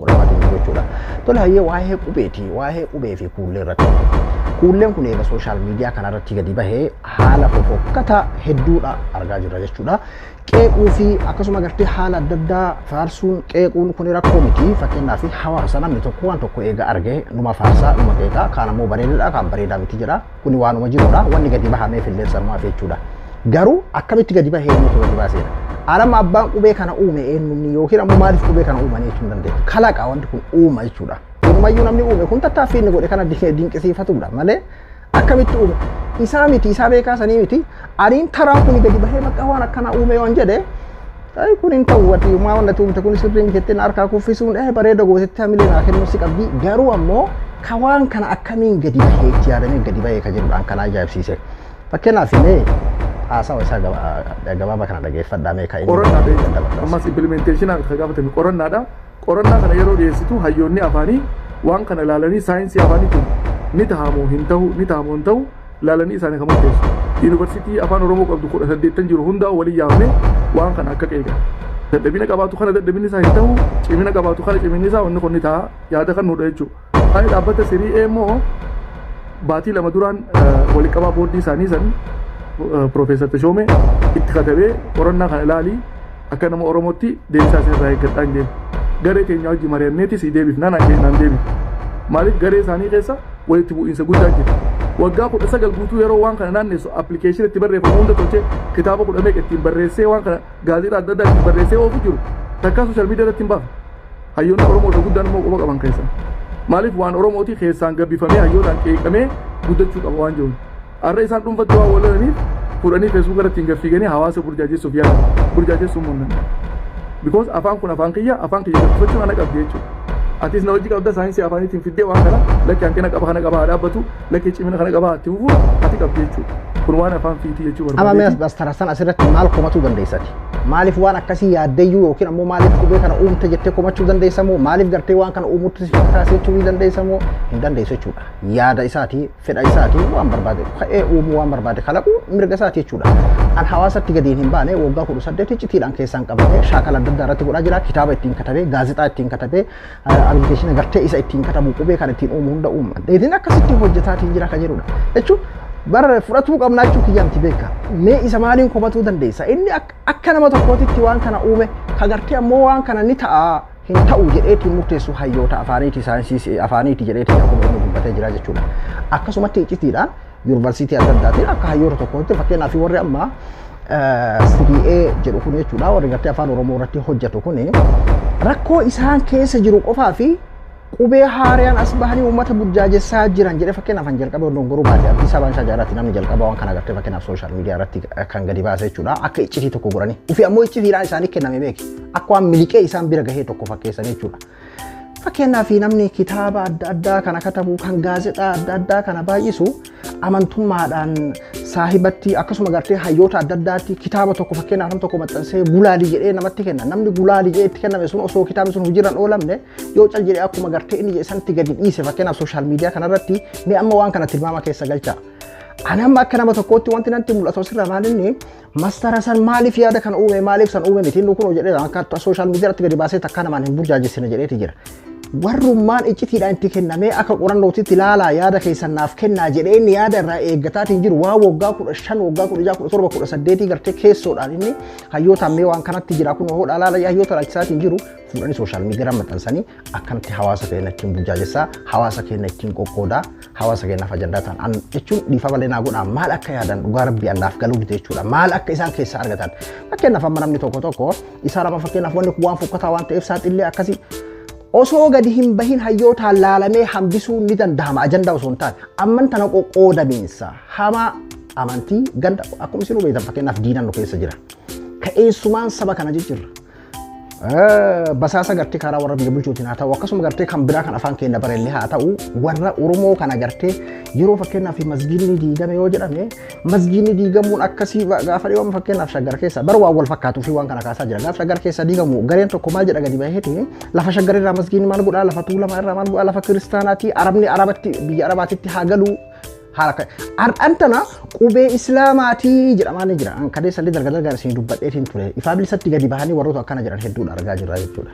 Qorama jiru jechuudha. Tole hayyee waa'ee qubeeti. Waa'ee qubee fi kuullee irratti. Kuulleen kun eega sooshaal miidiyaa kana irratti gadi bahee haala fofokkataa hedduudha argaa jirra jechuudha. Qeequu fi akkasuma gartee haala adda addaa faarsuun qeequun kun rakkoo miti. Fakkeenyaaf hawaasa namni tokko waan tokko eega arge numa faarsaa numa qeeqaa kaan ammoo bareedaadha kaan bareedaa miti jedha. Kuni waanuma jirudha. Wanni gadi bahameef illee sanumaaf jechuudha. Garuu akkamitti gadi bahee eenyutu gadi baaseera? Alama abbaan qubee kana uume eenyumni yookiin ammoo maaliif qubee kana uumanii jechuun dandeenya. Kalaqa wanti kun uuma jechuudha. Walumayyuu namni uume kun tattaaffii inni godhe kana dinqisiifatudha malee akkamitti uume? Isaa miti, isaa beekaa sanii miti. Ariin taraan kun gadi bahee maqaa waan akkanaa uumee waan jedhe Ay kun hin ta'u ati maa wanna tuumte kun sirrii miti jettiin harkaa kuffisuun eh bareeda gootetti hamilee naa kennuu si qabdi garuu ammoo ka waan kana akkamiin gadi bahee itti yaadamee gadi bahee ka jedhudhaan kan ajaa'ibsiise. Fakkeenyaaf mee haasawa isaa gabaabaa kana dhageeffadhaa mee ka inni. Qorannaadha. Ammas impilimenteeshinaa kan gaafatame qorannaadha. Qorannaa kana yeroo dhiyeessitu hayyoonni afaanii waan kana ilaalanii saayinsii afaanii kun ni tahamoo hin tahu ni tahamoo hin tahu ilaalanii isaanii kan murteessu. Yuunivarsiitii afaan Oromoo qabdu kudha saddeettan jiru hundaa walii yaamne waan kana akka qeeqa. Dadhabina qabaatu kana dadhabinni isaa hin tahu cimina qabaatu kana ciminni isaa wanni kun ni taha yaada kan nuudha jechuudha. Waa'ee dhaabbata Serie A immoo baatii lama duraan waliqabaa boordii isaanii san Piroofeesar Tashoomee itti katabee qorannaa kana ilaalii akka nama Oromootti deebisaa isin irraa eeggadhaa hin Garee keenya wajji mari'anneeti sii deebifnaa naan jedhe naan deebiif. Maaliif garee isaanii keessa walitti bu'iinsa guddaa jira. Waggaa kudha sagal guutuu yeroo waan kana naannessu appilikeeshinii itti barreeffamu hunda tolchee kitaaba kudha meeqa ittiin barreessee waan kana gaazexaa adda addaa itti barreessee oofu jiru takkaa sooshaal miidiyaa irratti hin baafa. Hayyoonni Oromoodha guddaan immoo quba qaban keessaa. Maaliif waan Oromooti keessaan gabbifamee hayyootaan qeeqamee guddachuu qaba waan jiruun. Har'a isaan dhuunfatti waan wallalaniif fuudhanii feesbuuk irratti hin gaffiiganii hawaasa burjaajessuuf yaala. Burjaajessuu immoo hin danda'u. Because afaan kun afaan kiyya afaan kiyya gabbifachuun ana qabdi jechuudha. Atis na hojii qabda saayinsii afaaniitiin fiddee waan kana lakki hanqina qaba kana qaba haa dhaabbatu. Lagee cimina kana qabaa itti fufuu ati qabdi jechuudha. Kun waan afaan fiitii jechuu Amma barbaadee. mi'as bastarassan asirratti maal komatuu dandeessati? Maaliif waan akkasii yaaddeyyuu yookiin ammoo maaliif qubee kana uumte jettee komachuu dandeessa moo maaliif gartee waan kana uumutti si fakkaasee jechuu ni dandeessa moo hin dandeessu jechuudha. Yaada isaatii, fedha isaatii waan barbaade ka'ee uumuu waan barbaade kalaquu mirga isaati jechuudha. An hawaasatti gadiin hin baane waggaa kudha saddeet iccitiidhaan keessaan qabatee shaakala adda addaa irratti godhaa jira. Kitaaba ittiin katabee, gaazexaa ittiin katabee, Arbitation agartee isa ittiin katabu qubee kan ittiin uumu hunda uuma. Dheedin akkasitti hojjetaatiin jira kan jedhudha. Jechuun bara fudhatuu qabnaa jechuu kiyyaanti beeka. Mee isa maaliin komatuu dandeessa? Inni ak- akka nama tokkootitti waan kana uume kagartee ammoo waan kana ni ta'a hin ta'u jedheetiin murteessu hayyoota afaaniiti saayinsii afaaniiti jedheetiin akkuma inni dubbatee jira jechuudha. Akkasumatti iccitiidhaan yuunivarsiitii adda addaatiin akka hayyoota tokkootti fakkeenyaaf warri amma CDA jedhu kun jechuudha warri gartee afaan Oromoo irratti hojjetu kun rakkoo isaan keessa jiru qofaa fi qubee haariyaan as bahanii uummata burjaajessaa jiran jedhee fakkeenyaaf kan jalqabee oddoon goruu baadiyyaa Addis Ababaan isaa jaarratti namni jalqaba waan kana agartee fakkeenyaaf sooshaal miidiyaa irratti kan gadi baase jechuudha akka iccitii tokko godhanii ofii ammoo iccitiidhaan isaanii kenname beeki akka waan miliqee isaan bira gahee tokko fakkeessan jechuudha. Fakkeenyaaf namni kitaaba adda addaa kana katabu kan gaazexaa adda addaa kana baay'isu amantummaadhaan saahibatti akkasuma gartee hayyoota adda addaatti kitaaba tokko fakkeenyaaf nam tokko maxxansee gulaalii jedhee namatti kenna namni gulaalii jedhee itti kenname sun osoo kitaabni sun hojiirraan oolamne yoo cal jedhee akkuma gartee inni jedhe sanatti gadi dhiise fakkeenyaaf sooshaal miidiyaa kanarratti mee amma waan kana tilmaama keessa galchaa. Ani amma akka nama tokkootti wanti natti mul'atu asirraa maalinni Master Hasan maaliif yaada kana uume maaliif san uume miti inni kun jedhee akka sooshaal miidiyaa irratti gadi baasee takka namaan hin burjaajessine jedheeti jira. Warrummaan iccitiidhaan itti kennamee akka qorannootitti ilaalaa yaada keessan naaf kennaa jedhee inni yaada irraa eeggataatiin jiru waan waggaa kudha shan waggaa kudha jaha kudha torba kudha saddeetii gartee keessoodhaan inni hayyootaan mee waan kanatti jira kun hoo dhaalaa hayyoota laachisaatiin jiru fuudhanii sooshaal miidiyaa maxxansanii akkanatti hawaasa keenya ittiin burjaajessaa hawaasa keenya ittiin qoqqoodaa hawaasa keenyaaf ajandaa ta'an an jechuun dhiifa malee naa godhaa maal akka yaadan dhugaa rabbii allaaf galuu dide jechuudha maal akka isaan keessaa argatan fakkeenyaaf amma namni tokko tokko isaa nama fakkeenyaaf wanni kun waan fokkataa waan ta'eef saaxillee akkasii osoo gadi hin bahin hayyootaan laalamee hambisuun ni danda'ama ajandaa osoo hin taane amman tana qoqqoodamiinsa hamaa amantii ganda akkuma isin hubeetan fakkeenyaaf diinan nu keessa jira ka'eessumaan saba kana jijjiirra basaasa gartee karaa warra biyya bulchuutiin haa ta'u akkasuma gartee kan biraa kan afaan keenya barellee haa ta'u warra Oromoo kana gartee yeroo fakkeenyaaf masgiinni diigame yoo jedhame masgiinni diigamuun akkasii gaafa dhiyooma fakkeenyaaf shaggar keessa bara waan wal fakkaatuu fi waan kana kaasaa jira gaafa shaggar keessa diigamu gareen tokko maal jedha gadi baheeti lafa shaggar irraa masgiinni maal godhaa lafa tuulamaa irraa maal godhaa lafa kiristaanaati arabni arabatti biyya arabaatitti haa galuu haala kan har'an tana qubee islaamaatii jedhamaa ni jira an kadee sallee darga dargaa isin dubbadheetiin ture ifaa bilisatti gadi bahanii warroota akkana jedhan hedduudha argaa jirra jechuudha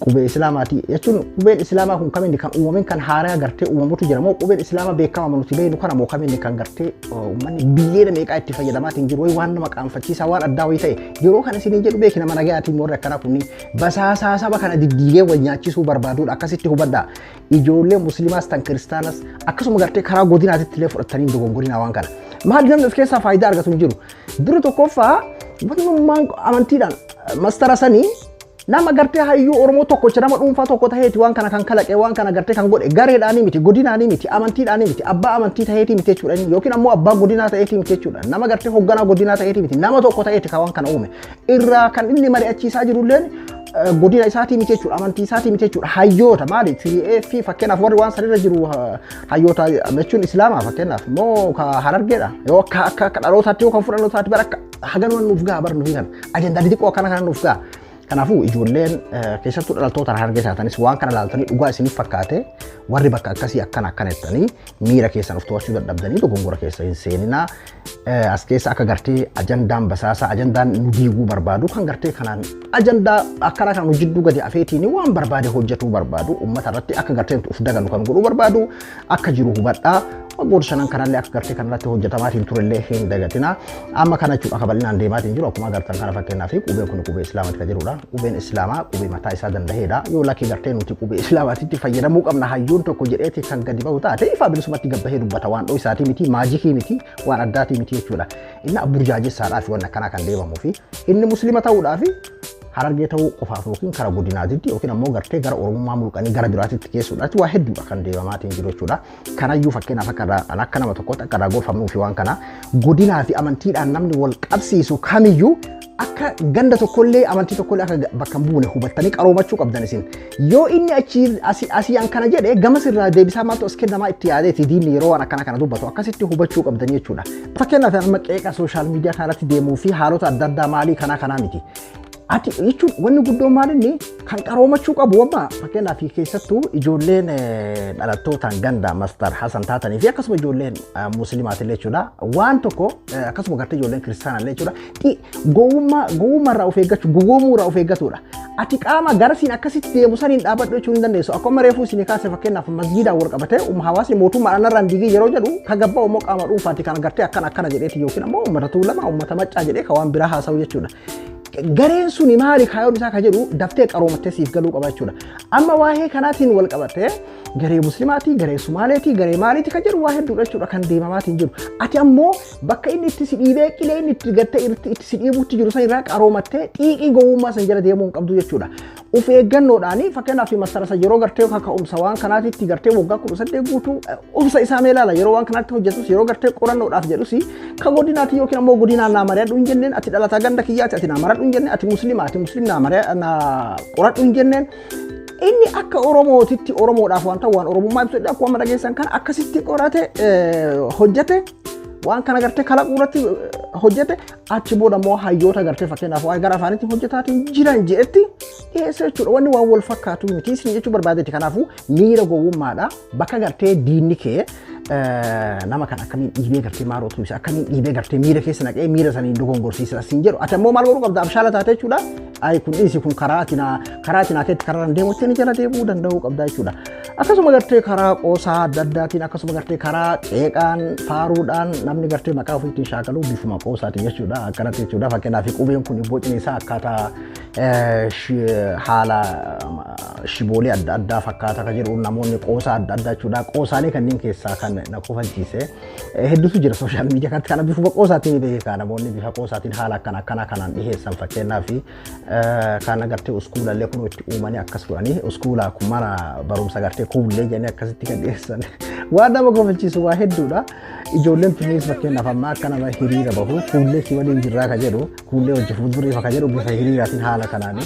qubee islaamaatii jechuun qubeen islaamaa kun kamiin kan uumameen kan haaraa gartee uumamutu jira moo qubeen islaamaa beekama nuti beeknu kana moo kamiin kan gartee uummanni biyyeena meeqaa itti fayyadamaatiin jiru waan nama qaanfachiisaa waan addaa wayii ta'e yeroo kana isin jedhu beekina mana gayaatiin warri akkana kunniin basaasaa saba kana diddiigee wal nyaachisuu barbaaduudha akkasitti hubadhaa ijoollee musliimaas tan kiristaanas akkasuma gartee karaa godinaatitti illee fudhatanii hin dogongorinaa waan kana. Maal namni of keessaa faayidaa argatu hin jiru. Dura tokkoffaa wanummaan amantiidhaan mastara sanii nama gartee hayyuu Oromoo tokkocha nama dhuunfaa tokko taheeti waan kana kan kalaqe waan kana gartee kan godhe gareedhaanii miti godinaanii miti amantiidhaanii miti abbaa amantii taheetii miti jechuudha yookiin ammoo abbaa godinaa taheetii miti jechuudha nama gartee hogganaa godinaa taheetii miti nama tokko taheeti kan waan kana uume irraa kan inni mari'achiisaa jiru illee godina isaatii miti jechuudha amantii isaatii miti jechuudha hayyoota maali fi fakkeenyaaf warri waan sanirra jiru hayyoota jechuun islaamaa fakkeenyaaf moo ka harargeedha yoo akka akka akka dhalootaatti yoo kan fudhannoo taate bara akka haganuma nuuf gaha bara nuuf kan ajandaa xixiqqoo akkana kana nuuf gaha kanaafuu ijoolleen keessattuu dhalattoota harargee taatanis waan kana ilaaltanii dhugaa isiniif fakkaate warri bakka akkasii akkana akkana jettanii miira keessan of to'achuu dadhabdanii dogongora keessa hin seeninaa as keessa akka gartee ajandaan basaasaa ajandaan nu diiguu barbaadu kan gartee kanaan ajandaa akkanaa kan hojjidduu gadi afeetiin waan barbaade hojjetuu barbaadu uummata irratti akka gartee of daganu kan godhuu barbaadu akka jiru hubadhaa waggoota shanan kanallee akka gartee kanarratti hojjetamaatiin turellee hin dagatina amma kana jechuudha akka bal'inaan deemaatiin jiru akkuma agartan kana fakkeenyaa fi qubeen kun qubee islaamati kan jirudha. Qubeen Islaamaa qubee mataa isaa danda'eedha. Yoo lakkii gartee nuti qubee Islaamaatitti fayyadamuu qabna hayyuun tokko jedheeti kan gadi ba'u taate ifaa bilisumatti gabbahee dubbata waan dhoo isaatii miti maajikii miti waan addaatii miti jechuudha. Inni abburjaajessaadhaa fi waan akkanaa kan deemamuu fi inni muslima ta'uudhaa fi harargee ta'uu qofaaf yookiin kara godinaatitti yookiin ammoo gartee gara oromummaa mulqanii gara biraatitti keessuudhaatti waa hedduudha kan deemamaatiin jiru jechuudha. Kanayyuu fakkeenyaaf akka irraa an akka nama tokkootti akka irraa gorfamnuu fi waan kana godinaa fi amantiidhaan namni wal qabsiisu kamiyyuu akka ganda tokkollee amantii tokkollee akka ga- bakka hin buune hubattanii qaroomachuu qabdan isin. Yoo inni achi asi- asii an kana jedhe gamas irraa deebisaa maaltu as kennamaa itti yaadeeti diinni yeroo waan akkana kana dubbatu akkasitti hubachuu qabdan jechuudha. Fakkeenyaaf amma qeeqa sooshaal miidiyaa kanarratti deemuu fi haalota adda addaa maalii kanaa kanaa miti. Ati jechuun wanni guddoon maal inni kan qaroomachuu qabu amma fakkeenyaaf keessattuu ijoolleen eh, dhalattootaan ganda mastar Hasan taatanii fi akkasuma ijoolleen eh, musliimaatillee jechuudha waan tokko eh, akkasuma gartee ijoolleen kiristaanaallee jechuudha Xi- gowwummaa gowwummaa irraa of eeggachuu gowwoomuu irraa of eeggatudha. Ati qaama garasiin akkasitti deemu saniin dhaabadhu jechuun hin dandeessu akkuma reefuu isin kaase fakkeenyaaf masjiidaan wal qabatee um hawaasni mootummaadhaan irraan digii yeroo jedhu ka gabbaa immoo qaama dhuunfaati kan gartee akkana akkana jedheeti yookiin ammoo uummata tuulamaa uummata maccaa jedhee ka waan biraa haasa'u jechuudha. Gareen suni maali kaayoon isaa ka jedhu daftee qaroomattee siif galuu qaba jechuudha. Amma waa'ee kanaatiin wal qabatee garee muslimaatii, garee sumaaleetii, garee maaliitii kan jedhu waa hedduudha jechuudha kan deemamaatiin jiru. Ati ammoo bakka inni itti si dhiibee qilee inni itti gattee itti si dhiibuutti jiru san irraa qaroomattee xiiqii gowwummaa san jala deemuu hin qabdu jechuudha. Of eeggannoodhaan fakkeenyaaf masarasa yeroo gartee kaka'umsa waan kanaatitti gartee waggaa kudha saddeet guutuu obsa isaa mee ilaala yeroo waan kanaatti hojjetus yeroo gartee qorannoodhaaf jedhus ka godinaati yookiin ammoo godinaan naa mari'adhu hin jenneen ati dhalataa ganda kiyyaati ati naa maradhu hin jenneen ati musliima ati musliim naa mari'a naa qoradhu hin jenneen inni akka oromootitti oromoodhaaf wanta waan oromummaa ibsudha akkuma amma dhageessan kana akkasitti qorate hojjete waan kana gartee kalaquu irratti hojjete achi booda immoo hayyoota gartee fakkeenyaaf waa'ee gara afaanitti hojjetaatiin jiran jedhetti dhiyeessa jechuudha. Wanni waan wal fakkaatu miti isin jechuu barbaadetti kanaafuu miira gowwummaadha bakka gartee diinni kee nama kan akkamiin dhiibee gartee maaroo tumse akkamiin dhiibee gartee miira keessa naqee miira saniin dogongorsiisa siin jedhu ati ammoo maal godhuu qabda abshaala taate jechuudha. Ayi kun dhiisi kun karaa atinaa karaa atinaa keetti karaa deemu itti jala deemuu danda'uu qabda jechuudha. Akkasuma gartee karaa qoosaa adda addaatiin akkasuma gartee karaa ceeqaan faaruudhaan namni gartee maqaa ofiitiin shaakaluu bifuma qoosaatiin jechuudha akkanatti jechuudha fakkeenyaaf qubeen kun bocni isaa akkaataa haala shiboolee adda addaa fakkaata kan jedhu namoonni qoosaa adda addaa jechuudha qoosaalee kanneen keessaa kan na kofalchiise hedduutu jira sooshaal miidiyaa kanatti kana bifuma qoosaatiin beekaa namoonni bifa qoosaatiin haala akkana akkana kanaan dhiheessan fakkeenyaaf Kaan agartee uskuulallee kun itti uumanii akkas godhanii uskuulaa kun mana barumsa agartee kuullee jennee akkasitti kan dhiyeessan. Waan nama kofalchiisu waa hedduudha. Ijoolleen tunniis fakkeenyaaf ammaa akka nama hiriira bahu kuullee si waliin jirraa ka jedhu kuullee hojii fuulduriif ka jedhu bifa hiriiraatiin haala kanaan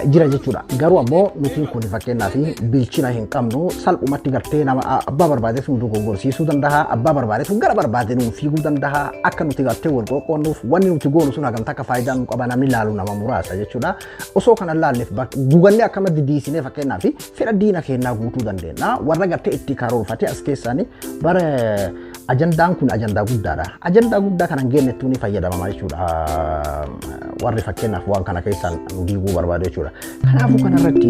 jira jechuudha. Garuu ammoo nutiin kun fakkeenyaaf bilchina hin qabnu salphumatti gartee nama abbaa barbaadetu nu dogoggorsiisuu danda'a abbaa barbaadetu gara barbaade nu fiiguu danda'a akka nuti gartee wal qoqqoonnuuf wanni nuti goonu sun hagam takka faayidaa nu qaba namni laalu nama muraasa jechuudha. Osoo kana laalleef guganne akkamatti diisinee fakkeenyaa fi fedha diina keenyaa guutuu dandeenya. Warra gartee itti karoorfatee as keessaanii bara ajandaan kun ajandaa guddaadha. Ajandaa guddaa kanan geenyettuu ni fayyadamama jechuudha. Warri fakkeenyaaf waan kana keessaan nu diiguu barbaadu jechuudha. Kanaafuu kanarratti